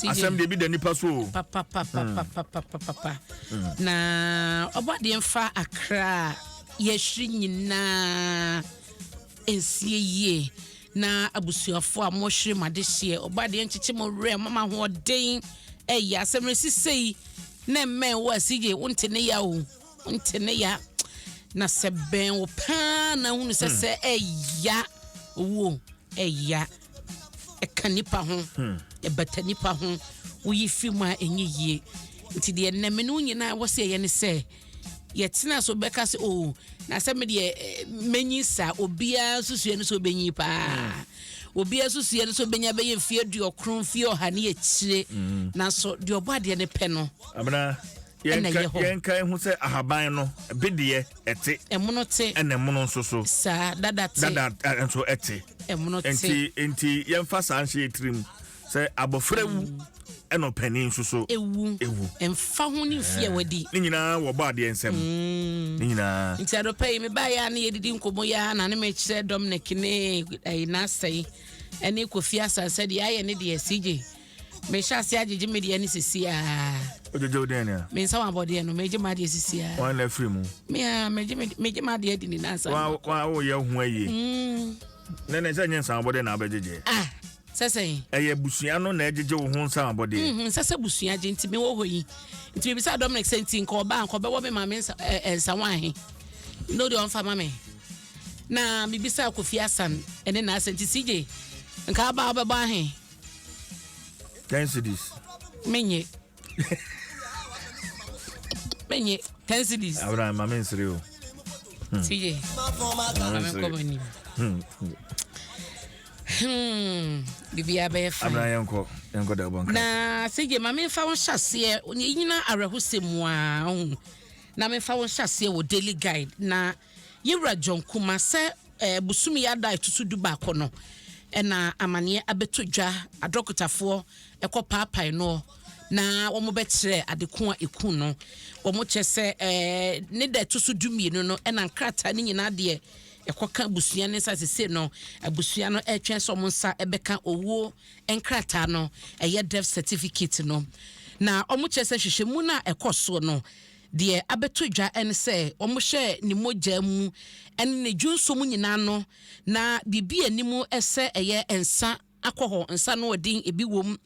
asɛm deɛ ebi da nipa so o. papapapapapapapa hmm. na ɔbɔ adeɛ nfa akra yɛhwiri nyinaa nsie yie na abusuafoɔ a mohwere mo adehyeɛ ɔbɔ adeɛ nkyekye mo werɛ mama ahoɔden ɛyɛ asɛm no sisɛ yi na mmɛn wo a sigye wonte ne ya o wonte ne ya na sɛ bɛn wo paa na hunu sɛ hmm. sɛ ɛya owuo ɛya. E ɛka nipa ho ɛbata nipa ho woyi firi mu a ɛnyɛ yie nti deɛ nnɛme no nyinaa ɛwɔ sɛ ɛyɛ ne sɛ yɛtena so bɛka sɛ o oh, na sɛ medeɛ eh, mɛnyi saa obiara susua no sɛ ɔbɛnyi paa obiara susua no sɛ ɔbɛnya bɛyɛ mfeɛ aduɔkron mfeɛ ɔha ne akyire mm. nanso deɛ ɔbɔ adeɛ no pɛ no ɛna ɛyɛ hɔ. yɛnka ehu sɛ ahaban no bedeɛ ɛte. ɛmono te. ɛna ɛmono nso so. saa dada te. dada nso ɛte. ɛmono te. nti nti yɛnfa saa nhyɛ yɛ tirim sɛ abɔfra wu. Mm. ɛna ɔpanin nso so ewu ewu mfa ho ne nfi a wadi ne nyinaa wɔbɔ adeɛ nsɛm mm. ne nyinaa nti adɔpɛ yi mebaa yɛ a ne yɛdidi nkɔmmɔ yɛ a na ne mekyerɛ dɔm ne kene ɛyi n'asɛe ɛne kofi asasɛ deɛ ayɛ ne deɛ sigye mehyɛ ase agyegye me deɛ no sesiaa wogyegye wo dɛn nea me nsa wabɔdeɛ no megye m'adeɛ sesiaa wɔn na afiri mu mea megye m'adeɛ adi ne nansa woyɛ ho ayie mm. na ne sɛ nyɛ nsa wabɔdeɛ na wobɛgyegye ah, sɛ sɛn ɛyɛ abusua no na ɛgyegye wo ho nsa wabɔdeɛ mm, nsɛ sɛ busua gye nti mewɔ hɔ yi nti mebisa dominic sɛ nti nka ɔbaa nka ɔbɛwɔ me ma me nsa wo ahe na wode ɔmfa ma me na mebisa kofi asan ɛne naasɛ nti sigye nka aba wobɛbɔ ahe ten cities. menye menye ten cities. abena ma mi nsiri o. Hmm. tiye ma mi nkɔ m'anim. Hmm. Hmm. biribiara bɛyɛ fine. abena yɛn kɔ yɛn kɔ dɛbɔ nka. na sege ma mi nfa wɔn hyɛ aseɛ nyina awerɛhosɛ mu aa na mi nfa wɔn hyɛ aseɛ wɔ daily guide na. Yewura John Kumah sɛ ɛɛ bosome yi ada ɛtoso du baako no ɛna amaneɛ abɛtɔ dwa adrɔkotafoɔ ɛkɔ paapae noɔ na wɔn bɛ kyerɛ adeko a ɛku no wɔn kyɛ sɛ ɛɛ ne da ɛtoso du mmienu no ɛna nkrataa ne nyinaa deɛ ɛkɔ ka abusua ne nsa sese no abusua no ɛtwɛn sɛ wɔn nsa ɛbɛka owuo nkrataa no ɛyɛ death certificate no na wɔn kyɛ sɛ hwehwɛ mu no a ɛkɔ soɔ no Deɛ abɛto dwa ne sɛ wɔhyɛɛ ne mogya mu ne ne dwonsɔ mu nyinaa no, na biribi a anim sɛ ɛyɛ nsa akɔ hɔ, nsa anoɔden, ebi wom,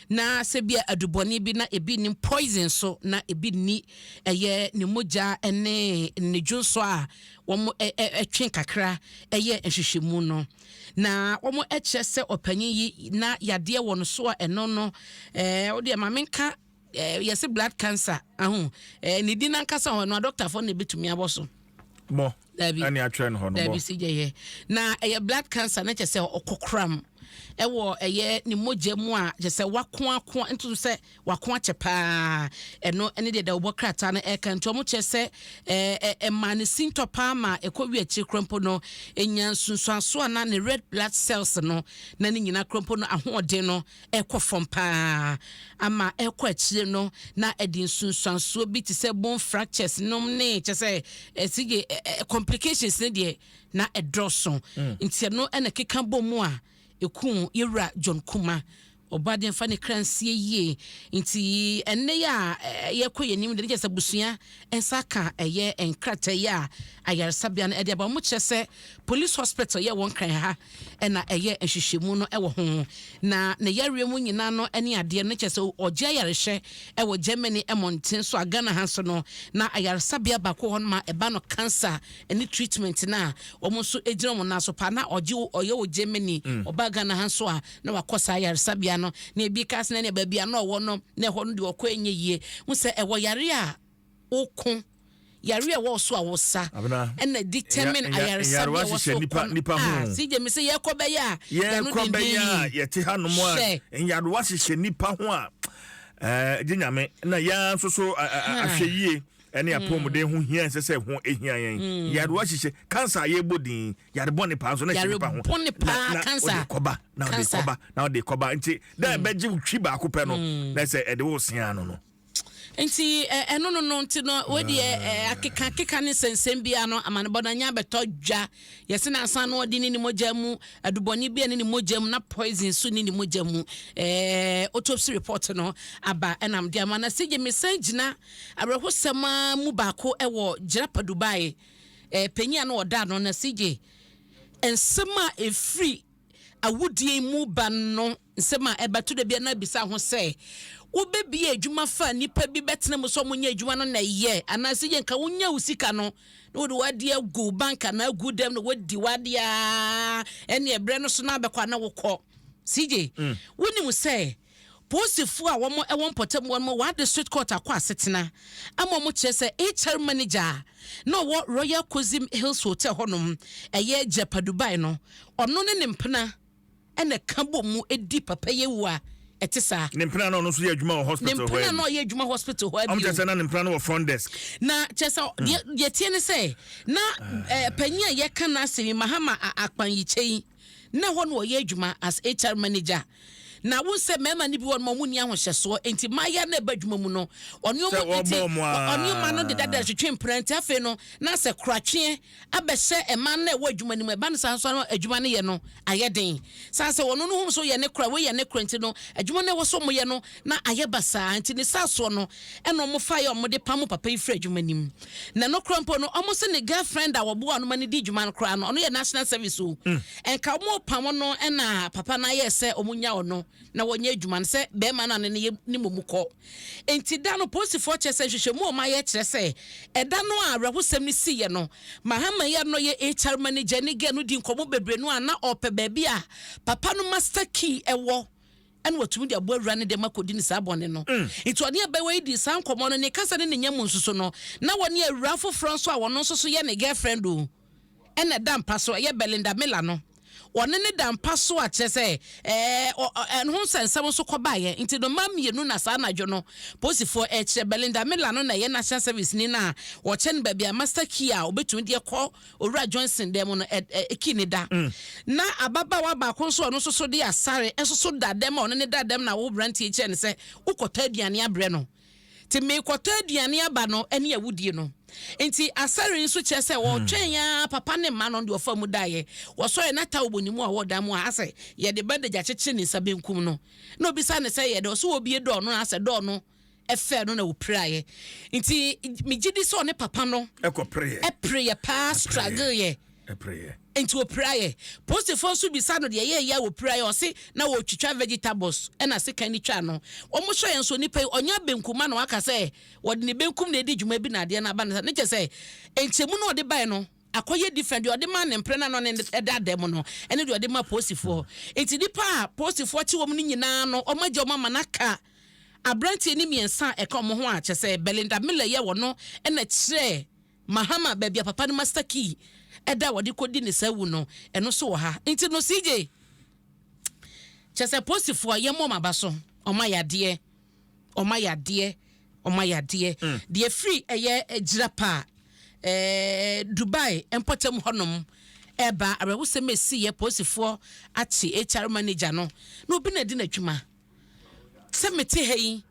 na sɛ bi a adubɔne bi na ebi nnim, poison nso na ebi nni, ɛyɛ ne mogya ne ne dwonsɔ a wɔtwe kakra yɛ nhwehwɛmu no, na wɔkyerɛ sɛ ɔpanyin yi na yadeɛ wɔ ne so a ɛno no, wodeɛ ma menka eh, yɛse blood cancer aho eh, ne din ankasa hɔ no adɔktafoɔ na ɛbɛtumi abɔ so bɔ ɛne atwerɛ no hɔ no bɔ sɛ yɛyɛ na ɛyɛ blood cancer na kyɛ sɛ ɔkɔkoram ɛwɔ ɛyɛ ne mogya mu a kyɛ sɛ wakoako nto sɛ wako akyɛ paa ɛno ɛne deɛ dawobɔ krataa no ɛka nti ɔmo kyerɛ sɛ ɛma ne sintɔ paa ma ɛkɔ wi akyiri korompo no ɛnya nsunsuanso a na ne red blood cells no na ne nyina korompo no ahoɔden no ɛkɔ fam pa ara ama ɛkɔ akyire no na ɛde nsunsuansoɔ bi te sɛ bone fractures nom ne kyɛ sɛ ɛsi gye complications ne deɛ na ɛdɔɔso mm. nti ɛno ɛna keka bɔ mu a ɛku yɛwura John Kuma ɔbɔ adeɛ fa ne kra nsie yie nti ɛnne yɛ a yɛkɔ yɛn anim de ne kyɛ sɛ abusua nsa ka ɛyɛ nkratayi a ayaresabea no de aba. Wɔkyerɛ sɛ Police Hospital yɛ wɔn kan ha na ɛyɛ nhwehwɛmu no wɔ ho, na ne yareɛ mu nyina no ne adeɛ no kyerɛ sɛ ɔgye ayarehwɛ wɔ Germany mmɔnten so a Ghana ha nso no na ayaresabea baako wɔ hɔ nom a ɛba no cancer ne treatment no a wɔn nso gyina wɔn nan so paa na ɔgye ɔyɛ wɔ Germany ɔbaa Ghana ha nso a na wakɔ saa yaresabea no, na ebi ka sɛ nea baabi a na ɔwɔ no, na ɛhɔ no deɛ ɔkɔ ɛnyɛ yie. Hu sɛ ɛwɔ yare a woko, yare a ɛwɔ so a wosa, ɛna determine ayaresabea a ɛwɔ so kɔ no. Ah, si gye me sɛ yɛkɔ bɛyɛ a, yɛn ho denden yi. Yɛte ha nom a, nyarewa hyehyɛ nipa ho a, ɛɛ, gye nyame, na yɛn nso so ahwɛ yie ɛne hmm. apɔmuden ho hia ɛsɛ sɛ ho ehia yɛn hmm. yarewa hyehyɛ kansa a yɛbɔ din yare bɔne paa nso na ɛhyɛ nipa ho na ɔde kɔba na ɔde kɔba na ɔde kɔba nti dɛ hmm. ɛbɛgye wo twi baako pɛ no hmm. na sɛ ɛde wo sea no no nti ɛno no no nti no wodeɛ akeka akeka ne nsɛnsɛm bia no amanebɔ no anya bɛtɔ dwa yɛse no asan no ɔde ne ne mogya mu adubɔne bia ne ne mogya mu na poison so ne ne mogya mu autopsy report no aba ɛnam de ama na sɛ gye mesan gyina awerɛhosɛm mu baako ɛwɔ gyerapa dubai eh, panyin a na ɔda ano no se gye nsɛm a ɛfiri awudie mu ba no nsɛm a ɛbɛto da bia no abisa ho sɛ wobɛbie adwuma fa nnipa bi bɛtena mu sɛ ɔmonyɛ adwuma no na ɛyɛ anaasɛ yɛ nka wonya wo sika no na wode w'adeɛ agu bank anaa agu dɛm na wadi w'adeɛ a ɛne ɛberɛ no so no abɛkɔ ana wokɔ sigye wonim sɛ Polisifo a wɔwɔ mpɔtam hɔ no ma wɔde Sweetcourt akɔ asetena ama wɔkyerɛ sɛ HR manager a na ɔwɔ Royal Kozim Hills Hotel hɔnom, ɛyɛ Jeppa Dubai no, ɔno ne ne mpena na ɛka bom mu di papayɛ wu a ɛte saa. Ne mpena a na ɔno nso yɛ adwuma wɔ hospital hɔ ara bi. Ne mpena a na ɔyɛ adwuma hospital hɔ ara bio. Wɔkyerɛ sɛ na ne mpena no wɔ front desk. Na kyerɛ sɛ deɛ ɛteɛ ne sɛ, na panyin a yɛka n'asɛm yi, Mahama Akpan Yikyei, na ɛhɔ na ɔyɛ adwuma as HR manager. Na wohu sɛ mmarima no bi wɔ no wɔn nni ahohyɛsoɔ nti mmayewa no ɛba adwuma mu no ɔne wɔn nti ɔne mma no deda dɛrɛ twetwe mpena nti afei no na sɛ koratweɛ abɛhyɛ mmaa no na ɛwɔ adwuma no mu ɛba no saa nso ano adwuma no yɛ no ayɛ den sane sɛ wɔn no ho nso yɛ ne kora wei yɛ ne kora nti no adwuma no ɛwɔ so wɔyɛ no Na ayɛ basaa, nti ne saa soɔ no ɛna ɔmo faeɛ a ɔmo de pamo papa yi firi adwuma nim. Na nokorɛ mpo no ɔmo se ne girlfriend a ɔboa ɔno ma no di dwuma no koraa no ɔno yɛ national service o. Nka ɔmo repamo no ɛna papa no ayɛɛ sɛ ɔmo nya ɔno na wɔnyɛ adwuma no sɛ bɛɛma no a ne ne yɛ ne momu kɔ. Nti da no polisifoɔ kyerɛ sɛ nhwehwɛmu a ɔmo ayɛ kyerɛ sɛ ɛda no a awerɛhosɛm no siiɛ no Mahama yi a na ɔyɛ HR manager ne girl no dii nkɔmɔ bebree no a na ɔrepɛ baabi a papa no master key ɛwɔ ɛna watumi de aboa wura no dɛm akɔdi no saa bɔne no. Nti ɔne abaayewa yi dii saa nkɔmmɔ no, ne kasa ne ne nya mu nso so no, na ɔne awuraa foforɔ nso a ɔno nso so yɛ ne girlfriend o, ɛna da mpa so, ɛyɛ Belinda Miller no, ɔne no da mpa so a kyerɛ sɛ ɛɛ ɛho nsɛnsɛm nso kɔbaeɛ. Nti no mmaa mmienu na saa anadwo no polisifoɔ ɛrekyerɛ. Belinda Miller no na ɛyɛ National Service ni no a ɔkyɛ no baabi a master key a ɔbɛtumi de kɔ Owura Johnson dan mu no, ɛ, ɛ, Ki ne da. Ná ababaawa baako nso a ɔno nso so de asare nso so da dɛm a ɔne no da dɛm na awo aberanteɛ yi kyerɛ no sɛ, Wokɔtɔ aduane abrɛ no. Enti merekɔtɔ aduane aba no ne awudie no. Enti asare yi nso kyerɛ sɛ wɔtwɛn ara, papa ne mma no, ɔno deɛ ɔfaa mu daeɛ. Wɔsɔreeɛ na towel bɔ ne mu a ɔwɔ dan mu a asɛ yɛde bandage akyekyere ne nsa benkum no. Na ɔbisaa no sɛ, Yɛ dɛ? Ɔse, Wɔ bie dɔɔ no? Na asɛ, Dɔɔ no. ɛfɛɛ no na wɔpiraeɛ nti megye di sɛ ɔne papa no ɛpereeɛ paa straggleeɛ nti wɔpiraeɛ posifoɔ nso bisa no deɛ yɛyɛ a wɔpiraeɛ ɔse na wɔtwitwa vegetables ɛna se kan ne twa no wɔmohyɛ yɛn nso nipa yi ɔnya benkum ma na waka sɛ wɔde ne benkum na ɛdi dwuma bi na adeɛ no aba no ne kyɛ sɛ nkyɛmu no ɔde bae no akɔyɛ different deɛ ɔde ma ne mpere na no ne ɛda ada mu no ɛne deɛ ɔde ma posifoɔ nti nipa a posifoɔ te wɔm no nyinaa no ɔmagya ɔma ma no aka Aberanteɛ no mmiɛnsa a ɛka wɔn ho a kyerɛ sɛ Belinda Miller yɛ wɔn no na kyerɛɛ Mahama baabi a papa no master key da a wɔde kɔdi ne saa awu no. Ɛno nso wɔ ha. Nti no CJ, kyerɛ sɛ apolisifoɔ a yɛmmɔ wɔn aba so, wɔn ayɛ adeɛ, wɔn ayɛ adeɛ, wɔn ayɛ adeɛ. Deɛ ɛfiri ɛyɛ Jirapa ɛɛ Dubai mpɔtam hɔnom ɛreba awerɛhosɛm a ɛsiiɛ, apolisifoɔ akye HR manager no, na obi na ɛde no adwuma. sɛ mete ha yi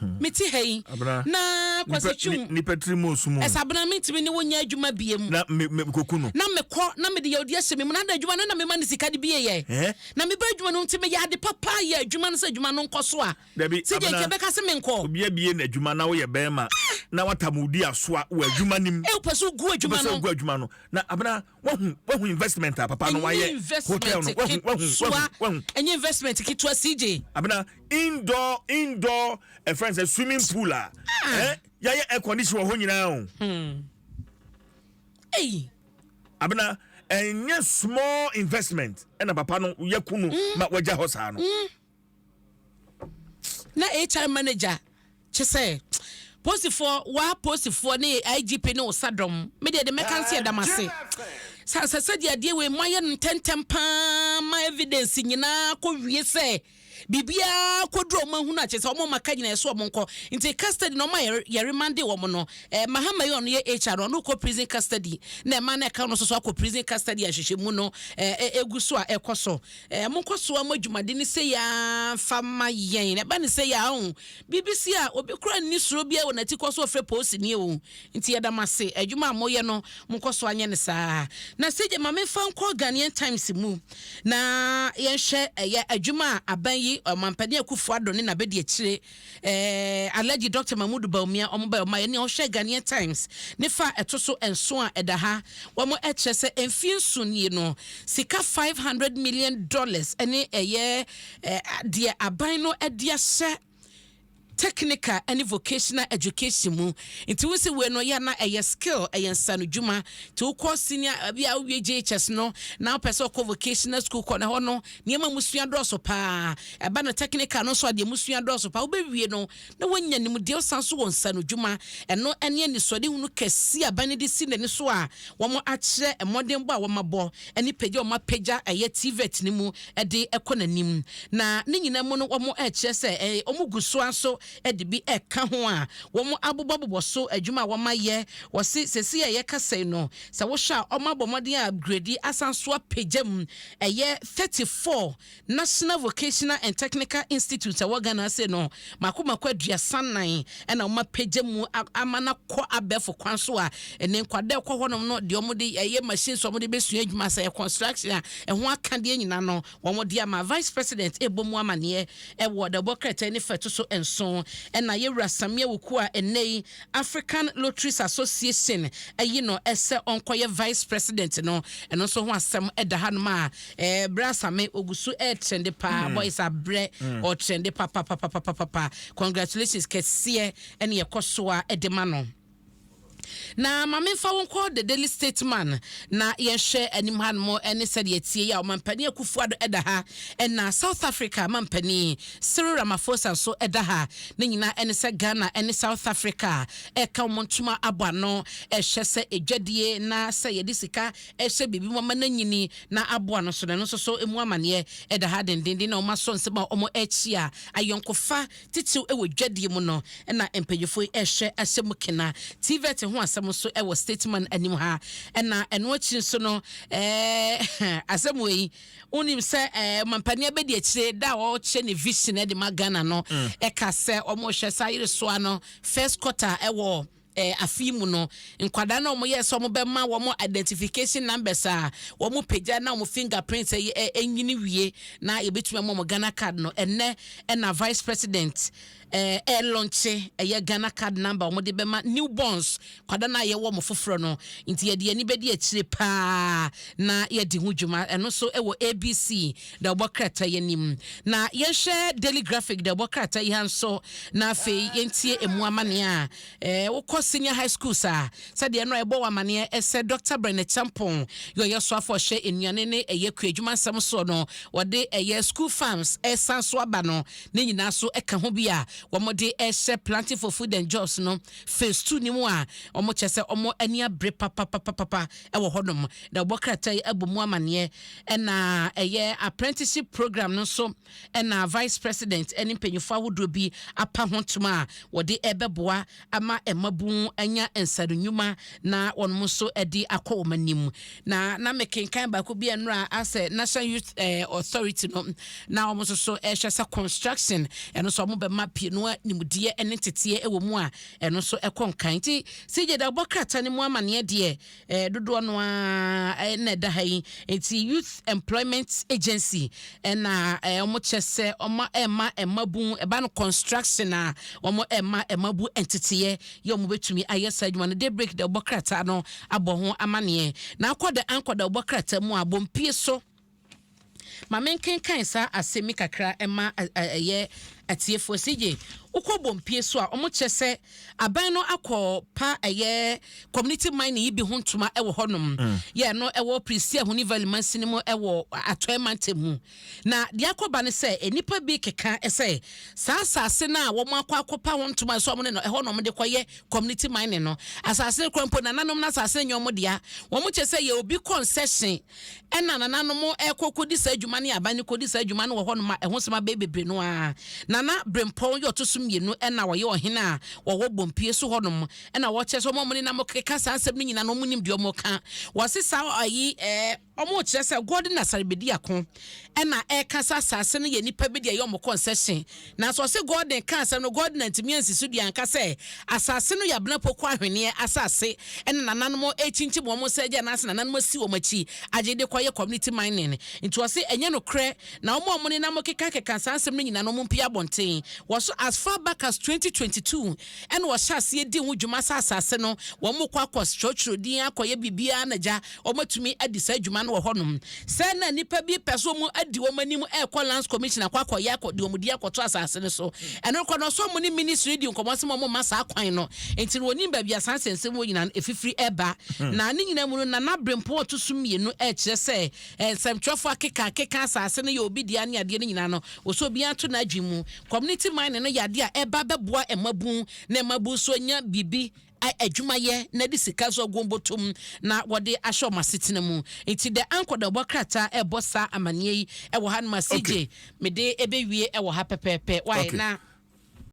hmm. mete ha yi na kwasi twum nipa tiri mu osum ɛsɛ abena mi ntumi ne wo nya adwuma bie mu na me me koku no na mekɔ na mede yɛ odi ahyɛ me mu na ada adwuma no na mema ne sika de bie yɛ eh? na meba adwuma no nti meyɛ ade papa yɛ adwuma no sɛ adwuma no nkɔ so a sɛ deɛ nkyɛ bɛka sɛ menkɔ obi abie na adwuma na woyɛ bɛrima na watamudi asoa wɔ adwuma nim ɛwopɛ so gu adwuma no na abena wahu wahu investment a papa no wayɛ hotel no wahu wahu wahu wahu ɛnyɛ investment ketewa cj abena indoor indoor ɛfrɛ sɛ swimming pool a ah. eh, yɛayɛ air condition wɔ hɔ nyinaa o hmm. ei abena ɛnyɛ small investment ɛna papa no yɛ kunu hmm. ma wagya hɔ saa no hmm. Na HR manager kyɛ sɛ posifoɔ waa posifoɔ ne IGP ne osa dɔm me deɛ de mɛka nse ɛda mo ase sɛ asɛ sɛ deɛ adeɛ wei mo ayɛ no ntɛntɛm paa ma evidence nyinaa kɔ wie sɛ biribiara kɔduru ɔmo ahunu akyɛ sɛ ɔmo ma ka nyinaa ɛso ɔmo nkɔ nti custody na ɔmo a yɛre mande wɔn no eh, mahama yi ɔno yɛ HR no ɔno kɔ prison custody na ɛma na ɛka no soso akɔ prison custody ahyehyɛ mu no eh, eh, egu so a ɛkɔ so Eh, mo nkɔ so a mo adwumade no sei ara fa ma yɛn. Ɛba ne sɛ yɛ aho. BBC a obi kora nni suro biara wɔ n'ati kɔ so ɔfrɛ poosini o. Nti yɛda mo ase. Adwuma a moyɛ no, mo nkɔ so anyɛ no saa. Na CJ ma me mfa nkɔ Ghanaian Times mu na yɛnhwɛ ɛyɛ adwuma a aban yi, Ɔmampanin Akuffo Addo ne n'abadiakyire Eh, Alhaji Doctor Mahmood Bawumia, wɔn bae, wɔn bae, ɛnna wɔhwɛ Ghanaian Times ne fa a ɛto so nson a ɛda ha, wɔn kyerɛ sɛ mfie nson nie no, sika five hundred million dollars ɛne ɛyɛ eh, deɛ aban no ɛde ahyɛ technical ɛne vocational education mu nti wosi wei no yɛ na ɛyɛ skill ɛyɛ nsanodwuma nti wokɔ senior eh, bi a wowie JHS no na wopɛ sɛ ɔkɔ vocational school kɔ na hɔ no Nneɛma a musua dɔɔso paa. Ɛba no technical no nso a, deɛ musua dɔɔso paa. Wobɛwie no na woanya nimdeɛ, wosan nso wɔ nsanodwuma. Ɛno ne anisoadehunu kɛseɛ a aban no de si n'ani so a wɔakyerɛ mmɔdenbɔ a wɔabɔ ne pagya a wɔapagya ɛyɛ TVET no mu de kɔ n'anim. Na ne nyinaa mu no, wɔrekyerɛ sɛ wɔgu so ara nso de bi reka ho a wɔabobɔbobɔ so adwuma a wɔayɛ. Wɔse seesei a yɛkasa yi no, sɛ wohwɛ a, wɔabɔ mmɔden a upgrade asan nso apagya mu Ɛyɛ thirty four National Vocational and Technical Institutes a ɛwɔ Ghana ase no mako mako aduasa nnan na wɔapagya mu ama no akɔ abɛɛfo kwan so a ɛnɛ nkwadaa a ɛkɔ hɔnom no deɛ wɔde ɛyɛ machines a wɔde bɛsua adwuma sɛ ɛyɛ construction a ɛho akadeɛ nyinaa no wɔde ama Vice President ɛbɔ mu amaneɛ ɛwɔ the ɛbɔ krataa nifa ɛto so nson ɛna yɛwura Samia Wuku a ɛnɛ yi African Lotteries Association ayi no sɛ ɔnkɔyɛ Vice President no, ɛno nso ho asɛm da hanom a eh, Brɛ Asame, ɔgu so retrende paa, hmm. boys abrɛ, hmm. ɔtrende papapapapapa, congratulations kɛseɛ ɛne ɛkɔ so a ɛde ma no. na ma memfa wo nkɔ the daily stateman na yɛnhwɛ anim hanom ne sɛdeɛ tie yi a ɔmampani akufo ado ɛda ha ɛna south africa mampani Cyril Ramaphosa nso da ha. Ne nyinaa ɛne sɛ Ghana ne South Africa ɛka wɔn ntoma abɔ ano ɛhwɛ sɛ adwadie na sɛ yɛde sika ɛhyɛ biribi mu ama no anyini na aboa no nso no, ɛno nso so mu amaneɛ ɛda ha dendenden na wɔn asɔ nsɛm a wɔn ɛkyia ayɔnkofa titiriw ɛwɔ dwadie mu no na mpanyinfoɔ yi ɛhwɛ ahyɛ mu kena. TVET ho asɛm nso ɛwɔ Statesman anim ha ɛna ɛno akyi nso no ɛɛ asɛm wei. Wonim sɛ eh, ɔmampanin abɛdi akyire da a ɔkyerɛ ne vision de ma Ghana no mm. ɛka sɛ wɔhwɛ saa yeresoa no first quarter ɛwɔ eh, afe yi mu no nkwadaa na wɔyɛ sɛ wɔbɛma wɔn identification numbers a wɔn pagya na wɔn fingerprint ɛyɛ eh, ɛnyini wie na yɛbɛtumi ama wɔn Ghana card no ɛnɛ ɛna vice president Ɛɛ ɛ lɔnkye ɛyɛ Ghana card number wɔn de bɛma new borns kwada no a yɛwɔ wɔn foforɔ no nti yɛde yɛn ani bɛdi akyire paa na yɛadi ho dwuma ɛno nso ɛwɔ ABC deɛ wɔbɔ krataa yi anim na yɛnhwɛ Daily Graphic deɛ wɔbɔ krataa yi ha nso na afei yɛntie ɛmu amaneɛ a ɛɛ wokɔ senior high schools a sɛdeɛ no a ɛbɔ wɔn amaneɛ ɛsɛ Dr. Brenne Champong yɛ ɔyɛ soafo ɔhyɛ nnuane ne ɛyɛ kuadwuma nsɛm soɔ no wɔde ɛyɛ school farms ɛsan so aba no Ne nyinaa nso ka ho bi a wɔde rehyɛ Planting for Food and Jobs no Phase Two no mu a wɔkyerɛ sɛ wɔn ani abere papapapapa wɔ hɔnom, na wɔbɔ krataa yi abɔ mu amanneɛ. Ɛna ɛyɛ Apprenticeship Program no nso na Vice President ne mpanyimfo ahodoɔ bi apa ho ntoma a wɔde rebɛboa ama mmabun anya nsaano nnwuma na wɔnom nso de akɔ wɔn anim. Na na me kenkan baako bi ɛnora asɛ National Youth eh, Authority no na wɔn nso so ɛhwɛ sɛ construction ɛno nso wɔn bɛma pie no nimdeɛ ɛne nteteɛ ɛwɔ mu a ɛno nso ɛkɔ nkan nti CJ da ɔbɔ krataa no mu amaneɛ deɛ eh, dodoɔ no ara eh, na ɛda ha yi nti youth employment agency ɛna eh, eh, wɔn kyɛ sɛ wɔn ɛma ɛmabu ɛba no construction a wɔn ɛma ɛmabu nteteɛ yɛ wɔn bɛtumi ayɛ saa adwuma no de break da ɔbɔ krataa no abɔ ho amaneɛ na akɔ da ankɔ da ɔbɔ krataa mu a bɔ mpie so. Ma menkenkan saa asɛm yi kakra mma ɛyɛ atiefoɔ. CJ, wokɔ Bompie so a, wɔkyerɛ sɛ aban no akɔ pa ɛyɛ community mining yi bi ho ntoma wɔ hɔnom. Mm. Yɛ ɛno ɛwɔ Prisi Ahoni Valley mansini mu ɛwɔ Atɔɛ mantam mu. Na deɛ akɔba no sɛ nnipa bi keka sɛ saa asase no a wɔn akɔ akɔpa ho ntoma so wɔn ne no ɛhɔ na wɔn de kɔyɛ community mining no. Asase no kura mpo nananom no asase no nyɛ wɔn dea. Wɔn kyerɛ sɛ yɛ obi kɔnsɛhyen Ɛna nananom ɛkɔ kɔdi saa adwuma no yɛ aban no kɔdi saa adwuma no wɔ hɔnom a ɛho sɛm abɛyɛ bebree no ara. Nana Brempɔn yɛ ɔto so mmienu ɛna ɔyɛ ɔhene a ɔwɔ Bompie so hɔnom ɛna ɔkyerɛ sɛ wɔn a wɔn nenam keka saa nsɛm no nyinaa no wɔn nim deɛ wɔn ka. Wɔse saa ayi ɛɛ. Wɔn kyerɛ sɛ Gordon Asare Bediako ɛna ɛka sɛ asaase no yɛ nnipa bi deɛ ɛyɛ wɔn kɔnsɛhyen. Nanso ɔse Gordon ka asɛm no, Gordon antumi ansi so dua anka sɛ asase no yɛ Abena Poku ahweneɛ asase ɛna nananom ɛrekyinkyim wɔn nsa agya anaase nananom asi wɔn akyi agye de kɔyɛ community mining. Nti ɔse ɛnyɛ nokorɛ na wɔn a wɔnenam kekakeka saa nsɛm no nyina no wɔn mpue abɔnten wɔso as far back as 2022 ɛna ɔhyɛ aseɛ di ho dwuma sɛ asase no wɔn kɔ akɔ twerɛtwerɛ din akɔ yɛ biribiara na gya wɔn atumi adi saa dwuma no wɔ hɔ nom sɛ na nipa bi pɛ so wɔn adi wɔn anim ɛkɔ lands commission akɔ akɔ yɛ akɔ de wɔn di akɔto asase no so ɛno kɔ no so wɔn ne ministry di nkɔmɔ sɛ wɔn ma saa kwan no nti no wɔnim baabi asan sɛnsɛm wɔ nyinaa no efifiri ɛba hmm. na ne nyinaa mu no na n'abere mpɔn ɔto so mmienu ɛkyerɛ sɛ nsɛmtwerɛfoɔ akeka akeka asase no yɛ obi deɛ ne adeɛ no nyinaa no wɔsɛ obiara to n'adwene mu Community mining no yɛ ade a ɛba bɛboa mmabun na mmabun nso anya biribi a adwuma yɛ na de sika nso agu wɔn botom na wɔde ahyɛ wɔn asetena mu. Nti The Anchor na ɛbɔ krataa ɛbɔ saa amaneɛ yi ɛwɔ ha no ma CJ Okay. mede ɛbɛwie ɛwɔ ha pɛpɛɛpɛ. Why Okay. na.